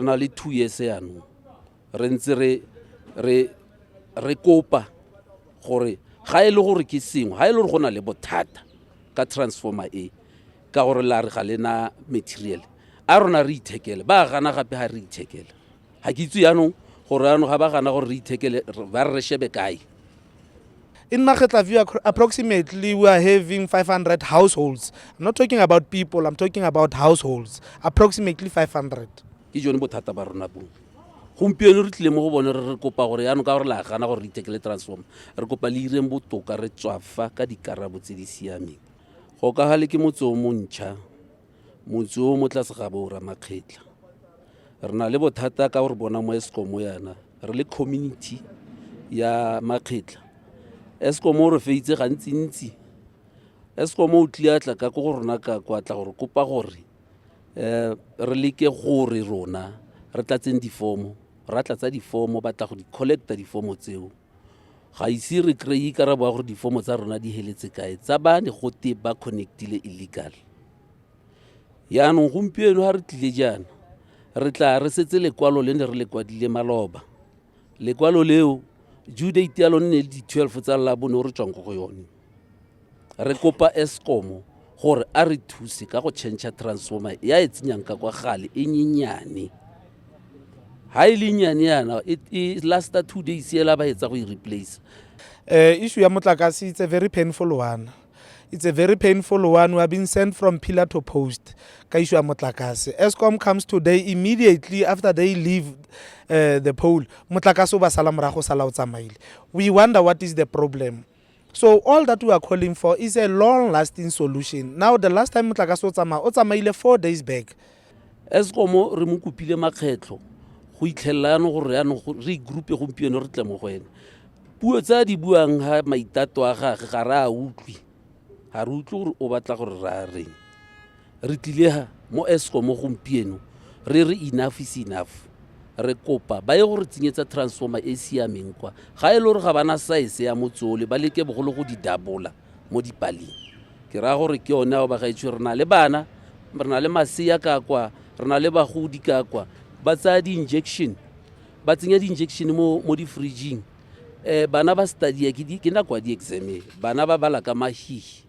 re na le two years yanong re ntse re re re kopa gore ga e le gore ke sengwe ga e le gore go na le bothata ka transformer e ka gore la re ga le na material a rona re ithekele ba gana gape ga re ithekele ga ke itse yanong gore yanong ga ba gana gore re ithekele ba re re shebe kae In Makgetllaview, approximately we are having 500 households. I'm not talking about people, I'm talking about households, approximately 500. ke jone bothata ba rona bo gompieno re tlile mo go bone re re kopa gore yanong ka gore la gana gore re itekele transform re kopa le ireng botoka re tswafa ka dikarabo tse di siameng go ka gale ke motse o montšha motse o mo tlase ga bo ramakgetla re na le bothata ka gore bona mo escom yana re le community ya makgetla escom o re feitse gantsintsi escom o tliatla ka ko go rona ka kwatla gore kopa gore um re leke gore rona re tlatseng difomo ra tlatsa difomo batla go di collecta difomo tseo ga ise re kry-e karabo ya gore difomo tsa rona di heletse kae tsa ba ne gote ba connectile illegal yaanong gompieno ga re tlile jaana re tla re setse lekwalo le ne re le kwadile maloba lekwalo leo due date ya lone ne le di-twelve tsa labone o re tswang ko go yone re kopa escomo gore a re thuse ka go change transformer ya e tsenyang ka kwa gale e nyenyane ha e le nyane yana e, e lasta two days ela ba etsa go e replace uh, issue ya motlakase it's a very painful one it's a very painful one we have been sent from pillar to post ka issue ya motlakase escom comes today immediately after they leave uh, the pole motlakase o ba sala morago sala o tsamaile we wonder what is the problem So all that we are calling for is a long lasting solution. Now the last time motlakase o tsamaya o tsamaile four days back. Eskom re mo kopile makgetlho go itlhelela yanong gore yanong re igroupe gompieno re tle mo go ene. Puo tse a di buang ga maitato a gage ga re a utlwe. Ga re utlwe gore o batla gore re a reng. Re tlile mo Eskom gompieno re re enough is enough re kopa ba ye go re tsenyetsa transformer e e siameng kwa ga e le gore ga bana size ya motsole ba leke bogolo go di dabola mo dipaleng ke raya gore ke yone ao bagaetsho re na le bana re na le masea ka kwa re na le bagodi ka kwa ba tsaya di-injection ba tsenya di-injection mo, mo di-fridging um bana ba studia ke, di, ke nako ya di-exame bana ba bala ka mahihi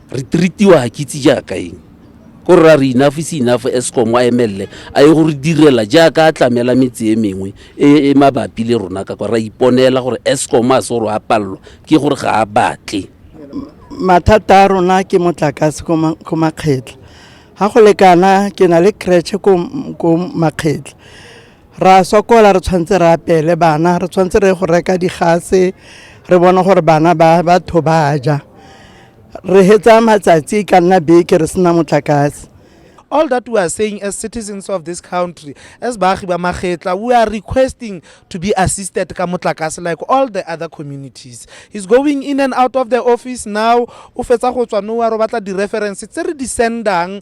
re treatiwa ga kitse jaaka eng ko rra re enough is enough escom a emelele a ye gore direla jaaka a tlamela metse e mengwe e e mabapi le rona ka kwa ra iponela gore escom a se gore a palelwa ke gore ga a batle mathata a rona ke motlakase ko ma- ko makgetla ga go lekana ke na le cratche ko ko makgetla ra sokola re tshwanetse re apele bana re tshwanetse re go reka digase re bona gore bana ba batho ba ja re hetsa matsatsi ka nna beke re sena motlakase all that we are saying as citizens of this country as baagi ba magetla we are requesting to be assisted ka motlakase like all the other communities he's going in and out of the office now o fetsa go tswa nowa ro batla di-reference tse re di sendang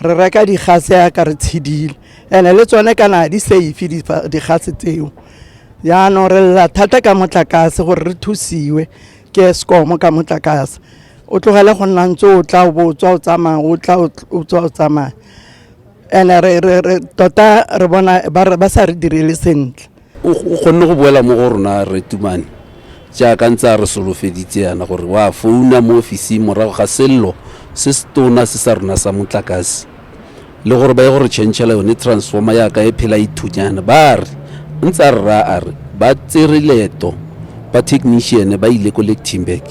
re reka digase ya ka re tshedile ene le tsone kana di safe digase tseo jaanong re lela thata ka motlakase gore re thusiwe ke escom ka motlakase o tlogele go nna ntse o tla o bo o tswa o tsamaya o tla o tswa o tsamaya ene tota re bona ba sa re direle sentle o kgonne go boela mo go rona re tumane jaaka ntse a re solofeditse yana gore wa founa mo ofising morago ga sello se se tona se sa rona sa motlakase le gore ba ye gore changela yone transformer yaka e phela ithunyana ba re ntse a rra a re ba tsere leeto ba technician ba ile ko lectimberg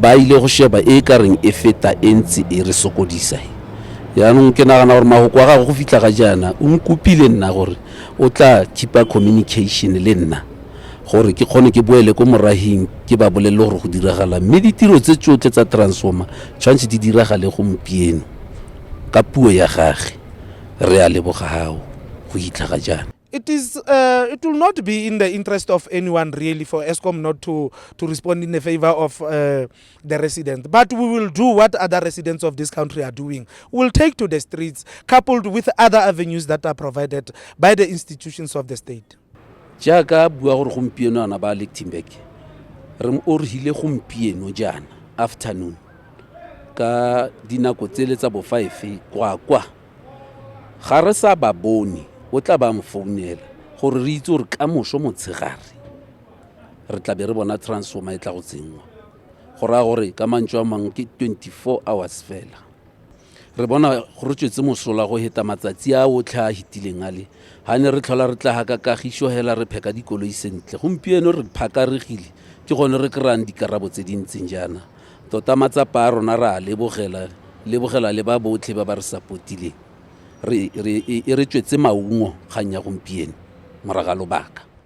ba ile go sheba e ka reng e feta e ntse e re sokodisa yaanong ke nagana gore magoko a gage go fitlha ga jaana o nkopile nna gore o tla keep-a communication le nna gore ke kgone ke boele ko morahing ke ba bolelele gore go diragala mme ditiro tse tsotlhe tsa transformer tshwanetse di diragale gompieno ka puo ya gage re a lebogao go itlha ga jaana it is uh, it will not be in the interest of anyone really for Eskom not to to respond in the favor of uh, the resident. But we will do what other residents of this country are doing. We'll take to the streets, coupled with other avenues that are provided by the institutions of the state. jaaka bua gore gompieno ana ba lectimberg re mo o re hile gompieno jaana afternoon ka dinako tsele tsa bofive kwakwa ga re sa ba bone o tla ba mo founela gore re itse gore ka moso motshegare re tla be re bona transformer e tla go tsenngwa go raya gore ka mantso a mangwe ke 24 hours fela re bona go re tswetse mosola go heta matsatsi a otlhe a hitileng a le ga ne re tlhola re tla ga ka kagiso hela re pheka dikoloi sentle gompieno re phakaregile ke gone re kry-ang dikarabo tse di ntseng jaana tota matsapa a rona re a lebogela lebogela le ba botlhe ba ba re sapotileng e re tswetse maungo kgang ya gompieno moraga lobaka